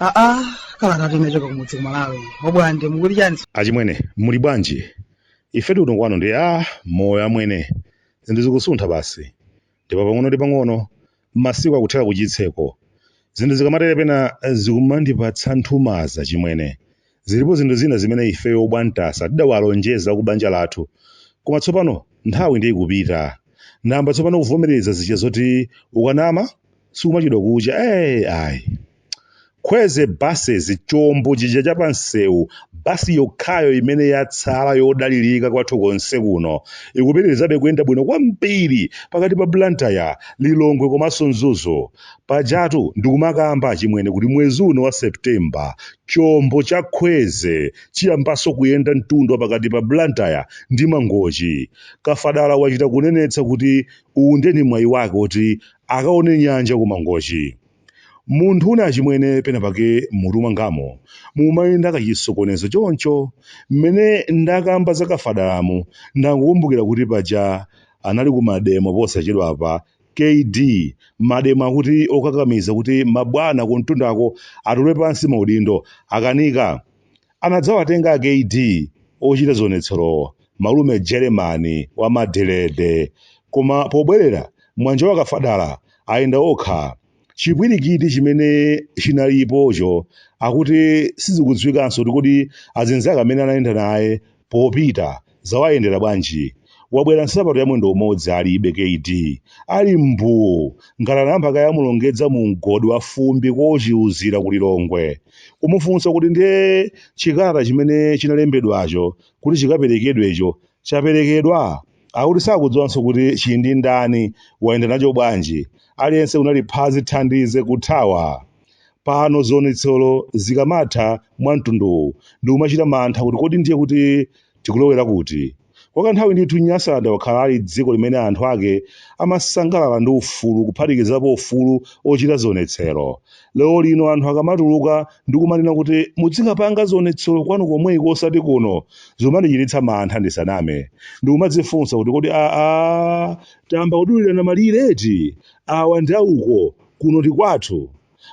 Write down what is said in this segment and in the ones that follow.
aa kalata yochoka kumudzi kumalawi obwande mukuti chani achimwene muli bwanji ife tili kuno kwanu ndi a moyo amwene zinthu zikusuntha basi ndipo pang'ono ndi pang'ono masiku akuthera ku chitseko zinthu zikamatere pena zikumandipatsa nthumaza chimwene zilipo zinthu zina zimene ifeyo obwantasa tidawalonjeza ku banja lathu koma tsopano nthawi ndiye ikupita namba tsopano kuvomereza zija zoti ukanama sikuchedwa kucha ee ayi Kweze Buses chombo chija cha pansewu, bus yokhayo imene yatsala yodalirika kwathu konse kuno, ikupitirizabe kuyenda bwino kwambiri pakati pa Blantyre, Lilongwe komanso Mzuzu. Pajatu ndikumakamba achimwene kuti mwezi uno wa September, chombo cha Kweze chiyambanso kuyenda mtunda wa pakati pa Blantyre ndi Mangochi. Kafadala wachita kunenetsa kuti uwu ndiye ndi mwayi wake woti akaone nyanja ku Mangochi. Munthu wina achimwene penapake m'mutu mwangamu mumayenda kachisokonezo choncho. Mmene ndakamba za Kafadalamu ndangokumbukira kuti paja anali ku mademo posachedwapa, kd mademo akuti okakamiza kuti mabwana kumtundako atule pansi maudindo akanika? anadzawatenga akd ochita zionetserowa malume jeremani wa madiredi koma pobwerera mwanjawa kafadala ayenda yokha chipwirikiti chimene chinalipocho akuti sizikudziwikanso kuti kodi azinzake amene anayenda naye popita zawayendera bwanji wabwera nsapato ya mwendo umodzi alibe kd ali mbuu ngati anayamba kaye amulongedza mu mgodi wa fumbi kochiuzira ku lilongwe kumufunsa kuti ndiye chikalata chimene chinalembedwacho kuti chikaperekedwecho chaperekedwa akuti sakudziwanso kuti chili ndi ndani wayenda nacho bwanji aliyense kunali phazi thandize kuthawa Pano zionetsero zikamatha mwa mtunduwu ndikumachita mantha kuti kodi ndiye kuti tikulowera kuti? Kwa kanthawi ndithu Nyasaland wakhala ali dziko limene anthu ake amasangalala ndi ufulu kuphatikizapo ufulu ochita zionetsero. Lero lino anthu akamatuluka ndikumanena kuti mudzikapanga zionetsero kwanu komweko osati kuno, zikumandichititsa mantha ndisaname. Ndikumadzifunsa kuti kodi aa tayamba kudulirana malire eti? Awa ndi auko, kuno ndi kwathu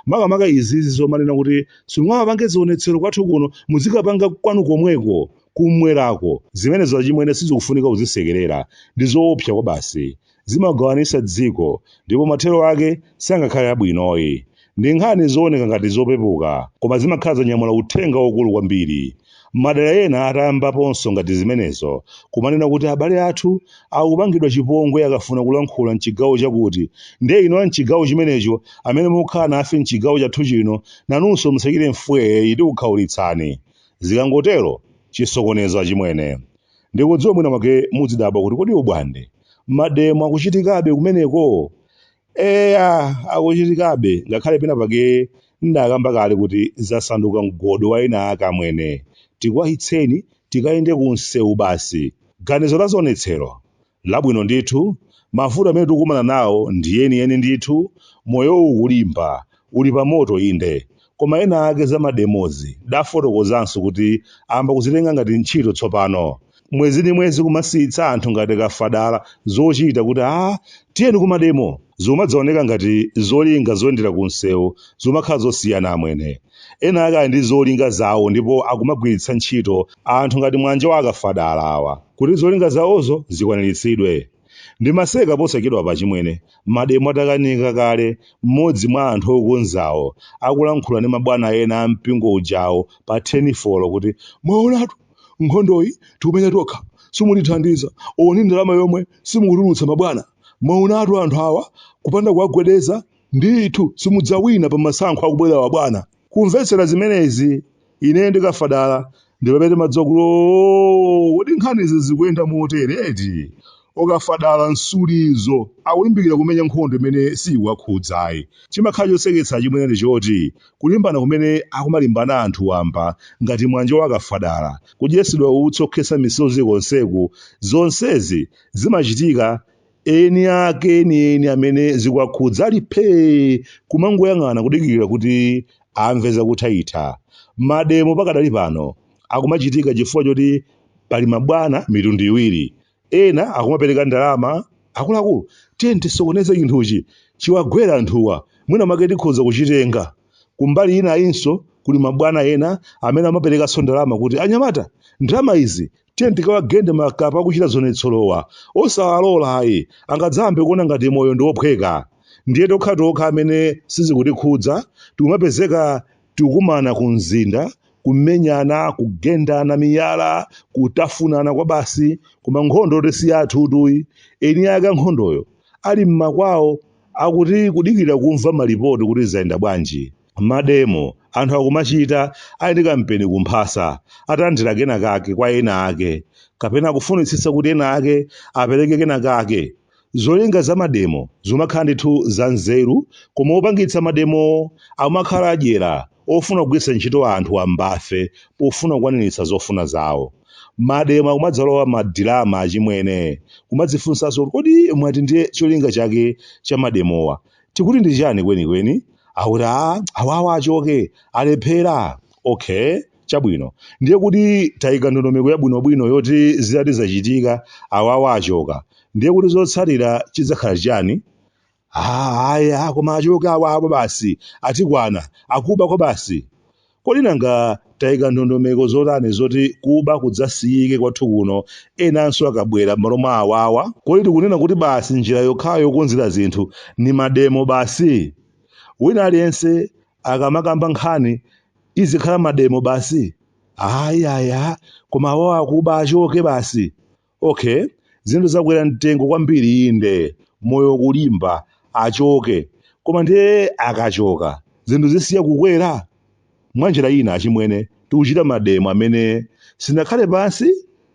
makamaka izizi zomanena kuti simungamapange zionetsero kwathu kuno muzikapanga kwanu komweko kumwerako zimenezo achimwene sizikufunika kuzisekerera ndi zoopsa kwabasi zimagawanisa dziko ndipo mathero ake sangakhale abwinoyi ndi nkhani zooneka ngati zopepuka koma zimakhala zanyamula uthenga waukulu kwambiri Madala ena atayambaponso ngati zimenezo kumanena kuti abale athu akupangidwa chipongwe akafuna kulankhula m'chigawo chakuti, ndiye inu a m'chigawo chimenecho amene mukukhala nafe m'chigawo chathu chino nanunso musachite mfweeyi tikukhaulitsani. Zikangotero, chisokonezo achimwene. Ndikudziwa mwina mwake mudzidabwa kuti kodi ubwande, mademo akuchitikabe kumeneko? Eya, akuchitikabe, ngakhale pena pake ndakamba kale kuti zasanduka mgodi wa ena ake amwene. Tikwachitseni tikayende ku msewu basi. Ganizo la zionetsero? Labwino ndithu. Mavuto amene tikukumana nawo ndi enieni ndithu. Moyowu ukulimba, uli pamoto inde. Koma ena ake za mademozi ndafotokozanso kuti ayamba kuzitenga ngati ntchito tsopano. Mwezi ndi mwezi kumasiyitsa anthu ngati kafadala zochita kuti aah tiyeni kumademo! Zikumadzaoneka ngati zolinga zoyendera kumsewu zikumakhala zosiyana amwene. Ena ake ali ndi zolinga zawo ndipo akumagwiritsa ntchito anthu ngati mwanja wa akafadala awa kuti zolinga zawozo zikwaniritsidwe. Ndimaseka posachedwapa achimwene, mademo atakanika kale mmodzi mwa anthu okonzawo akulankhula ndi mabwana ena a mpingo ujawo pa telefoni kuti, Mwaonatu, nkhondoyi tikumenya tokha, simutithandiza, olo ndi ndalama yomwe simukutulutsa mabwana. Mwaonatu anthu awa, kupanda kuwagwedeza, ndithu simudzawina pa masankho akubwerawa bwana. Kumvetsera zimenezi, ineyo ndi Kafadala ndi pamene timadziwa kuti oo, kodi nkhanizi zikuyenda motere eti? O Kafadala nsuli izo, akulimbikira kumenya nkhondo imene siyikuwakhudza ayi. Chimakhala choseketsa achimwene ndi choti, kulimbana kumene akumalimbana anthu wamba ngati Mwanja wa Kafadala, kudyetsedwa utsi okhetsa misozi konseku, zonsezi zimachitika eni ake enieni amene zikuwakhudza ali phee kumangoyang'ana kudikirira kuti amve zakuthaitha mademo pakadali pano akumachitika chifukwa choti pali mabwana mitundu iwiri ena akumapereka ndalama akuluakulu tiyeni tisokoneze chinthuchi chiwagwere anthuwa mwina mwake tikhoza kuchitenga kumbali ina ayinso kuli mabwana ena amene amaperekanso ndalama kuti anyamata ndalama izi tiyeni tikawagende makapa akuchita zionetserowa osawalola ayi angadzayambe kuona ngati moyo ndi wophweka ndiye tokha tokha amene sizikutikhudza tikumapezeka tikukumana ku mzinda kumenyana kugendana miyala kutafunana kwabasi koma nkhondoyotu si yathutu iyi eni ake ankhondoyo ali mmakwawo akuti kudikira kumva malipoti kuti zayenda bwanji mademo anthu akumachita ali ndi kampeni kumphasa atalandira kena kake kwa ena ake kapena akufunitsitsa kuti ena ake apereke kena kake zolinga za mademo zimakhala ndithu za nzeru koma opangitsa mademowo amakhala adyera ofuna kugwiritsa ntchito anthu wamba fe pofuna kukwaniritsa zofuna zawo mademo akumadzalowa madirama achimwene kumadzifunsanso kuti kodi mwati ndiye cholinga chake cha mademowa tikuti ndi chani kwenikweni akuti a awawa achoke alephera okay chabwino ndiye kuti tayika ndondomeko yabwinobwino yoti zitati zachitika awawa achoka ndiye kuti chotsatira chidzakhala chani Ah, aya koma achoke awawa basi atikwana akuba kwabasi Kodi nanga tayika ndondomeko zotani zoti kuba kudzasiyike kwathu kuno enanso akabwera m'malo mwa awawa? Kodi tikunena kuti basi njira yokhayo yokonzera zinthu ndi mademo basi? Wina aliyense akamakamba nkhani izikhala mademo basi? Ayi, ayi, a koma awawa akuba achoke basi! Okay, zinthu zakwera mtengo kwambiri inde, moyo ukulimba, achoke. Koma ndiye akachoka, zinthu zisiya kukwera? Mwanjira ina achimwene, tikuchita mademo amene sitinakhale pansi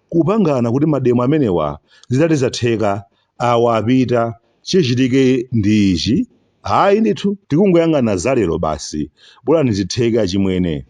kupangana kuti mademo amenewa zitati zatheka awa apita, chichitike ndi ichi, ayi ndithu tikungoyang'ana za lero basi, bolani zitheke achimwene.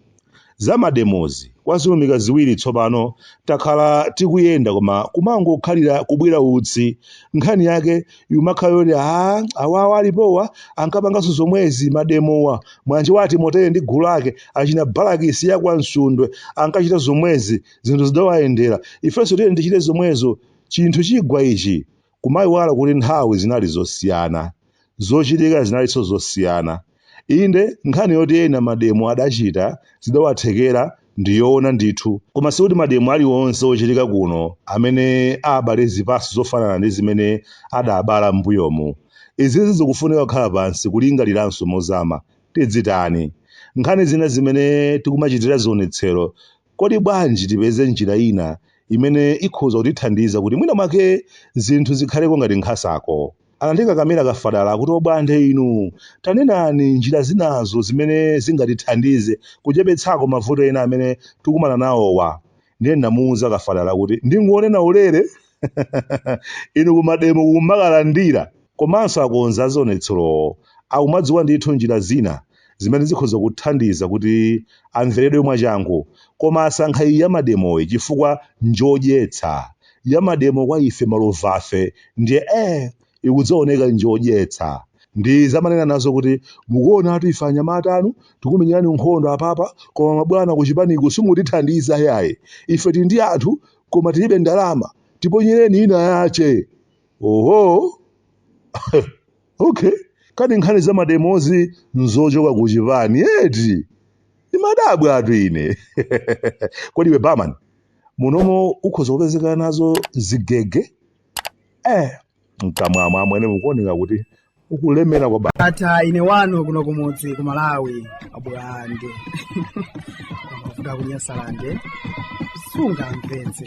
Za mademozi kwa zilumika ziwiri tsopano takhala tikuyenda koma kumangokhalira kubwira utsi, nkhani yake ikumakhala yoti aah awawa alipowa ankapanganso zomwezi mademowa, wanjiwa a Timoteo ndi gulu lake, achina Balakisi ya kwa Nsundwe ankachita zomwezi zinthu zidawayendera, ifenso tiyeni tichite zomwezo. Chinthu chigwa ichi, kumaiwala kuti nthawi zinali zosiyana, zochitika zinalinso zosiyana. Inde, nkhani yoti ena mademo adachita zidawathekera ndi yoona ndithu. Koma sikuti mademo alionse ochitika pano amene abale zipaso zofanana ndi zimene adabala m'mbuyomu. Izizi zikufunika kukhala pansi kulingaliranso mozama. Tizitani? Nkhani zina zimene tikumachitira zionetsero Kodi bwanji tipeze njira ina imene ikhoza kutithandiza kuti mwina mwake zinthu zikhaleko ngati nkhasako? Anandikakamira kafadala akuti obwande inu, tanenani njira zinazo zimene zingatithandize kuchepetsako mavuto ena amene tikumana nawowa. Ndiye ndinamuuza kafadala kuti ndingonena ulere. inu kumademo kumakalandira komanso okonza zionetserowo akumadziwa ndithu njira zina zimene zikhoza kuwathandiza kuti amveredwe mwachangu koma asankha iyi ya mademoyi chifukwa njodyetsa ya mademo kwa ife malovafe ndiye eh ikudzaoneka njodyetsa ndi zomanena nazo kuti mukuonatu ife anyamata anu tikumenyerani nkhondo apapa koma mabwana kuchipaniko simutithandiza yayi ife tili ndi anthu koma tilibe ndalama tiponyereni ina yache oho okay kani nkhani za mademozi nzochoka ku chipani eti ndimadabwatu ine kodi iwe barman munomo ukhoza kupezeka nazo zigege eh mkamwamu amwene mukuoneka kuti mukulemera kwa basi ata ine wanu kuno kumudzi ku malawi abwande kuda kunyasalande sunga mpenzi